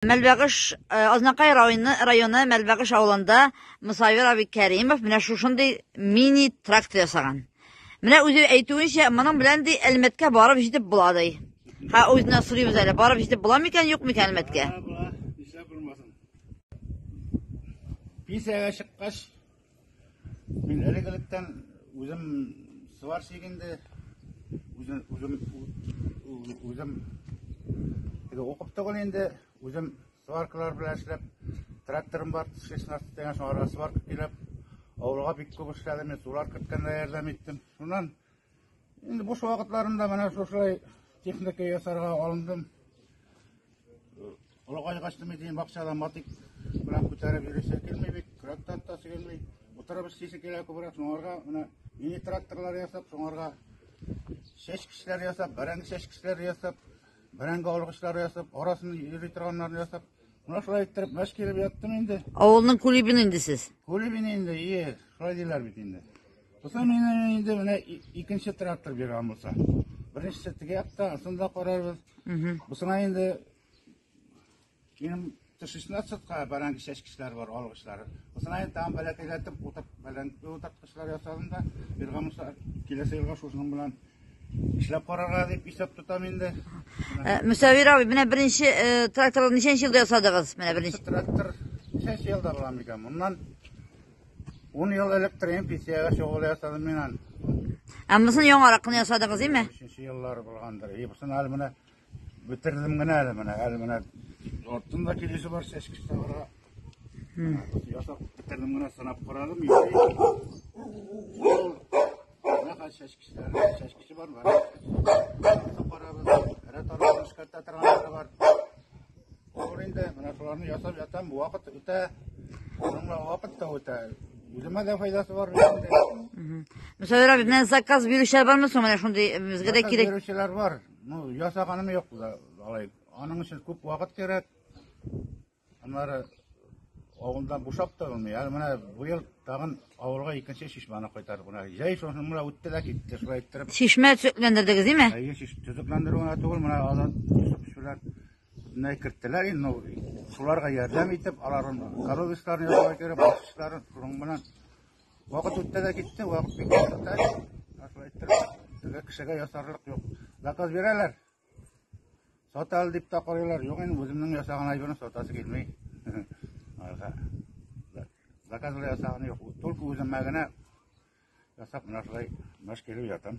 Мәлбәгыш, Азнакай районы Мәлбәгыш авылында Мосавир абый Кәримов менә шушындый мини-трактор ясаган. Менә үзе әйтүенчә, моның белән ди Әлмәткә барып җитеп була ди. Ха, үзеннән сорыйбыз әле, барып җитеп була микән, юк микән Әлмәткә? Була, була, нишләп булмасын. Пенсиягә чыккач, Мин әлегелектән үзем сварщик инде, үзем үзем үзем теге укып түгел инде, үзем сваркалар белән эшләп, тракторым бар, 16 дигән шуңарга сварка килеп, авылга бик күп эшләдем, мин сулар керткәндә ярдәм иттем. Шуннан Инде буш вакытларында менә шушылай техника ясарга алындым. Олыгайгач тимей дигән бакчада матик белән күтәреп йөрүсе килми бит, көрәктән тасы килми. Утырып эшлисе килә күбрәк, шуңарга менә мини тракторлар ясап, шуңарга чәчкечләр ясап, бәрәңге чәчкечләр ясап, бәрәңге алгычлары ясап, арасын йөри торганнарын ясап, менә шулай иттереп мәш килеп яттым инде. Авылның кулибин инде сез. Күлебин инде, ие, шулай диләр бит инде. Буса менен инде менә икенче трактор биргән булса. Беренчесе теге якта, сын да карарбыз. Бусына инде минем тышычна сотка баран кичәчкечләр бар, алгычлар. Бусына инде там бәләкәйләтеп утырт, бәлән утырткычлар ясадым да, биргән булса киләсе елга шушының белән эшләп карарга дип исәп тотам инде. Э, Мөсәвир абый, менә беренче э, тракторны ничәнче елда ясадыгыз? Менә беренче. Трактор ничәнче елда була микән? Моннан Ун ел элек торган пенсияга чыгуы ясадым мин аны. Ә монысын яңарак кына ясадыгыз, име? Өченче еллар булгандыр. И бусын әле менә бетердем генә әле менә, әле менә артында килеше бар чәчкә савыра. Ясап бетердем генә сынап карадым. Менә хәл чәчкечләр, чәчкече бар, бар. Карабыз, әре таралып эшкәртә торганлары бар. Ул инде менә шуларны ясап ятам, бу вакыт үтә. Шуңа вакыт та үтә. Үземә дә файдасы бар бит инде. Мөсәвир абый, менә заказ бирүчеләр бармы соң менә шундый э, безгә дә Заказ кирәк. бирүчеләр бар. Ну, ясаганым юк да, алай. Аның өчен күп вакыт кирәк. Аннары авылдан бушап та булмый. Әле менә быел тагын авылга икенче чишмәне кайтардык. Менә җәй шуны менә үтте дә китте. Шулай иттереп. Чишмә төзекләндердегез, димме? Әйе, шиш төзекләндерү генә түгел, менә алар төзекләр бөтенләй керттеләр инде. Ну, шуларга ярдәм итеп, аларның коровисларын ясарга кирәк, баскычларын шуның белән. Вакыт үтте дә китте, вакыт бик кыска. Шулай иттереп, теге кешегә ясарлык юк. Заказ бирәләр. Сат әле дип тә карыйлар. Юк инде, үземнең ясаган әйберне сатасы килми. Арга. Заказлы ясаган юк. Только үземә генә ясап менә шулай мәш килеп ятам.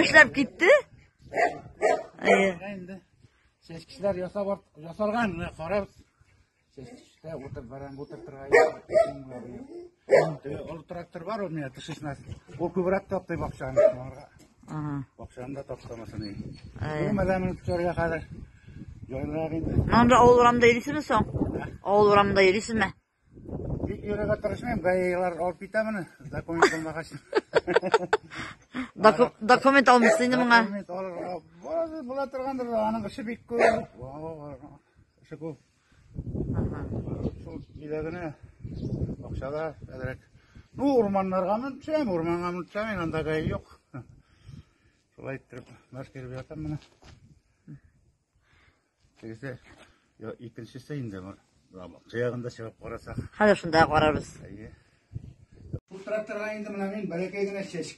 Эшләп китте? Әйе. Инде чәчкечләр ясап ясарган, менә карап. Чәчкештә утыр баран утыр торган. Ул трактор бар ул менә тышышнас. Ул күбрәк таптый бакчаны. Ага. Бакчаны да таптамасын. Әйе. Бу мәдәмен көтәргә хәзер. Җайлар инде. Монда авыл урамында йөрисезме соң? Авыл урамында йөрисезме? Бик йөрергә тырышмыйм, гаиләләр алып китә моны, документ алмагач. Документ алмыйсың инде моңа. Документ алырга. Бу була торгандыр, аның эше бик күп. Эше күп. Шул киләгенә акчада әзрәк. Ну, урманнарга мен төшәм, урманга мен төшәм, анда гай юк. Шулай иттереп, мәш кирбиятам менә. Тегесе, я икенчесе инде бар. Кыягында чыгып карасак. Хәзер шунда карарбыз. Әйе. Бу тракторга инде менә мин бәләкәй генә чәч,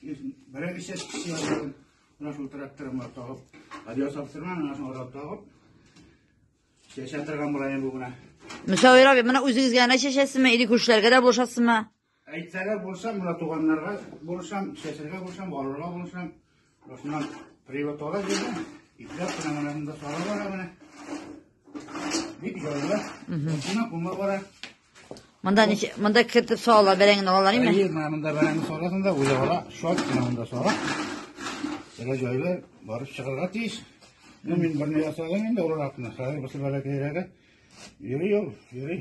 берәр чәч кисәм. Менә шул тракторыма тагып, радио сапсырма, менә шул радио тагып. Чәчә торган булайын бу менә. Мөсәвир абый, менә үзегезгә генә чәчәсезме или күршеләргә дә булышасызмы? Әйтсәгә булышам, мына туганнарга булышам, чәчергә булышам, алырга булышам. Шуннан привод ала җирдән, ипләп кенә менә монда сала бара менә. Бик җайлы. Шуннан кума бара. Монда ничә, монда кертеп сала, бәрәңгене алалар име? Әйе, менә монда бәрәңге саласың да, үзе ала, шат кенә монда сала. Сәлә җайлы, барып чыгарга тиеш. Мин берне ясадым инде, олыракны, хәзер бысы бәләкәйрәге. Йөри ул, йөри.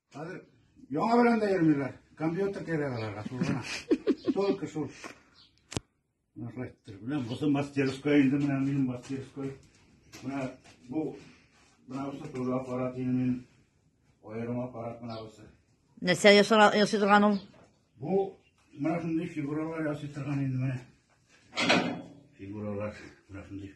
Хәзер яңа белән дә йөрмиләр. Компьютер кирәк аларга шул гына. Только шул. Ректор белән бусы мастерская инде менә минем мастерской. Менә бу менә бусы тоже аппарат инде минем. Аерым аппарат менә бусы. Нәрсә ясый торган ул? Бу менә шундый фигуралар ясый торган инде менә. Фигуралар менә шундый.